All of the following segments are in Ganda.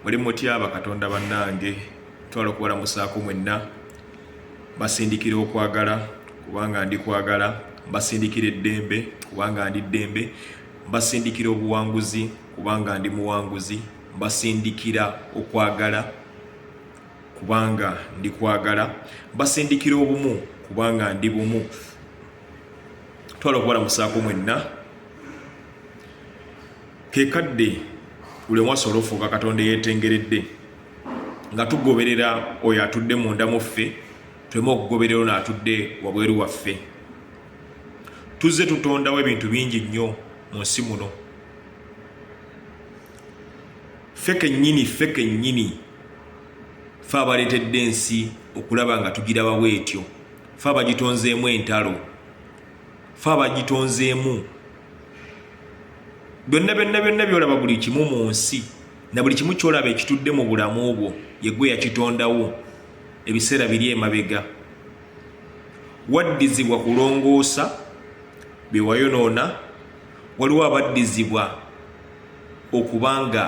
muli mutya bakatonda bannange twala okubalamusaako mwenna basindikira okwagala kubanga ndi kwagala mbasindikira eddembe kubanga ndi ddembe mbasindikira obuwanguzi kubanga ndi muwanguzi mbasindikira okwagala kubanga ndi kwagala mbasindikira obumu kubanga ndi bumu twala okubalamusaako mwenna ke kadde buli omu asobole ofuuka katonda eyetengeredde nga tugoberera oyo atudde munda mu ffe tuleme okugoberera ono atudde wabweru waffe tuzze tutondawo ebintu bingi nnyo mu nsi muno ffe kennyini ffe kennyini fe abaleetedde ensi okulaba nga tugiraba bwetyo fe abagitonzeemu entalo fe abagitonzeemu byonna byonna byonna byolaba buli kimu mu nsi na buli kimu kyolaba ekitudde mu bulamu bwo yegwe yakitondawo ebiseera biri emabega waddizibwa kulongoosa byewayonoona waliwo abaddizibwa okuba nga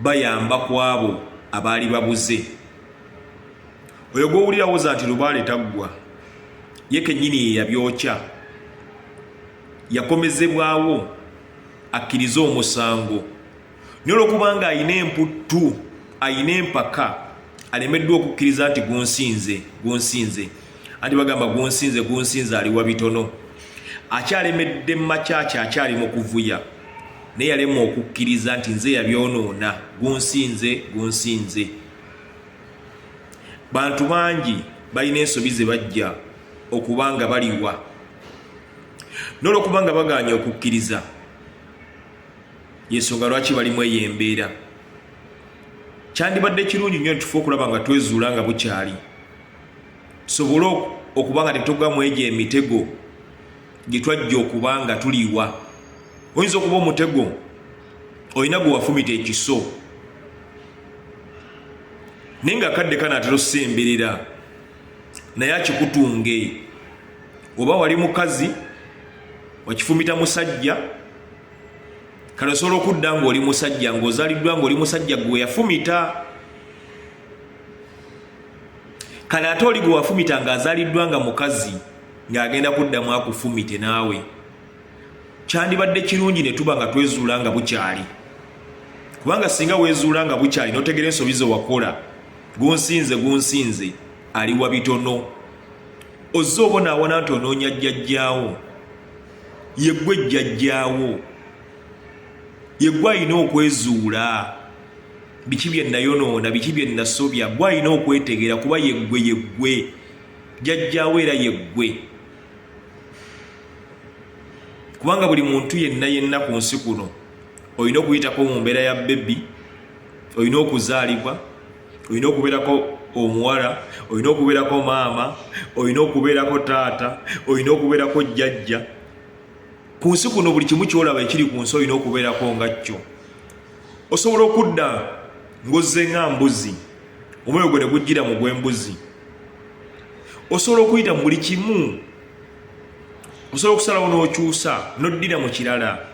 bayamba ku abo abaali babuze oyo gwowulirawoza nti lubaale taggwa ye kennyini yeyabyokya yakomezebwawo akkirize omusango naye olwokubanga alina emputtu alina empaka alemeddwa okukkiriza nti gunsinze gunsinze anti bagamba gunsinze gunsinze aliwa bitono akyalemedde mumakyaki akyali mu kuvuya naye yalema okukkiriza nti nze yabyonoona gunsinze gunsinze bantu bangi balina ensobi ze bajja okuba nga baliwa nolwokuba nga baganye okukkiriza yensonga lwaki balimu eyo embeera kyandibadde kirungi nyo nitufe okulaba nga twezuula nga bukyali tusobole okuba nga tetugamu egyo emitego gyetwajja okuba nga tuliwa oyinza okuba omutego olina gwe wafumita ekiso naye nga akadde kanaatera osemberera naye akikutunge oba wali mukazi wakifumita musajja kale osobola okudda ngaoli musajja ngaozaliddwa ngaoli musajja gwe yafumita kale ate oli gwe wafumita ngaazaliddwa nga mukazi ng'agenda kuddamu akufumite naawe kyandibadde kirungi ne tuba nga twezuula nga bukyali kubanga singa wezuula nga bukyali notegera ensobi ze wakola gunsinze gunsinze aliwa bitono ozze obonaabona nti onoonya jjajjaawo yeggwe jjajjaawo yeggwe alina okwezuula biki bye nayonoona biki bye nasobya gwe alina okwetegeera kuba yeggwe yeggwe jjajjaawo era yeggwe kubanga buli muntu yenna yenna ku nsi kuno olina okuyitako mu mbeera ya bebi olina okuzaalibwa olina okubeerako omuwala olina okubeerako maama olina okubeerako taata olina okubeerako jjajja ku nsi kuno buli kimu kyolaba ekiri ku nsi olina okubeerako nga kyo osobola okudda ng'ozze nga mbuzi omwoyo gwe ne gujjira mu gw'embuzi osobola okuyita mu buli kimu osobola okusalawo n'okyusa n'oddira mu kirala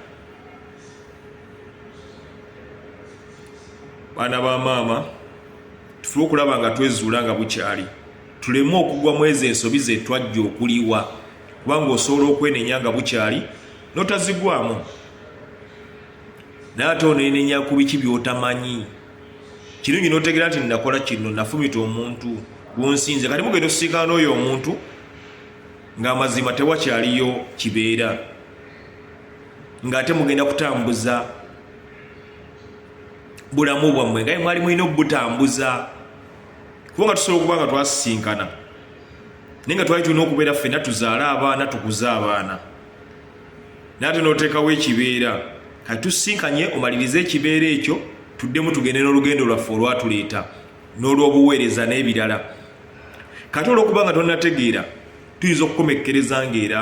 baana ba maama tufube okulaba nga twezuula nga bukyali tuleme okugwa mu ezo ensobi zetwajja okuliwa kubanga osobola okwenenya nga bukyali notazigwamu naye ate onenenya ku biki byotamanyi kirungi notegera nti nakola kino nafumita omuntu gwonsinze kati mugenda osisinkana n'oyo omuntu ng'amazima tewakyaliyo kibeera ng'ate mugenda kutambuza bulamu bwammwe nga mwali mulina okubutambuza kubanga tusobola okuba nga twasisinkana naye nga twali tulina okubeera ffena tuzaale abaana tukuze abaana naye ate n'oteekawo ekibeera kati tusisinkanye omalirize ekibeera ekyo tuddemu tugende n'olugendo lwaffe olwatuleeta n'olw'obuweereza n'ebirala kati olw'okuba nga tonategeera tuyinza okukomekkereza ng'era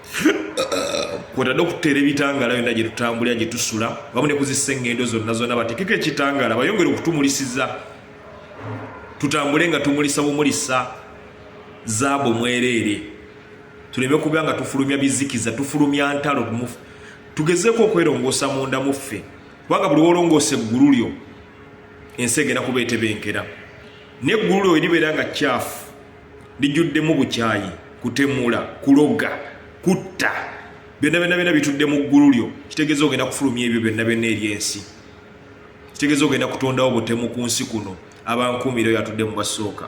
kwotadde okuteera ebitangaala yonna gye tutambulira gye tusula wamu ne kuzisa eŋŋendo zonna zonna batekeko ekitangaala bayongere okutumulisiza tutambule nga tumulisa bumulisa zaabu mwereere tuleme kuba nga tufulumya bizikiza tufulumya ntalo tugezeeko okwerongoosa munda mu ffe kubanga buli wolongoosa eggulu lyo ensi egenda kuba etebenkera n'eggulu lyo eribeera nga kyafu lijuddemu bukyayi kutemula kuloga kutta byonna byonna byonna bitudde mu ggulu lyo kitegeeza ogenda kufulumya ebyo byonna byonna eri ensi kitegeeza ogenda kutondawo butemu ku nsi kuno abankuumira oyo atudde mu basooka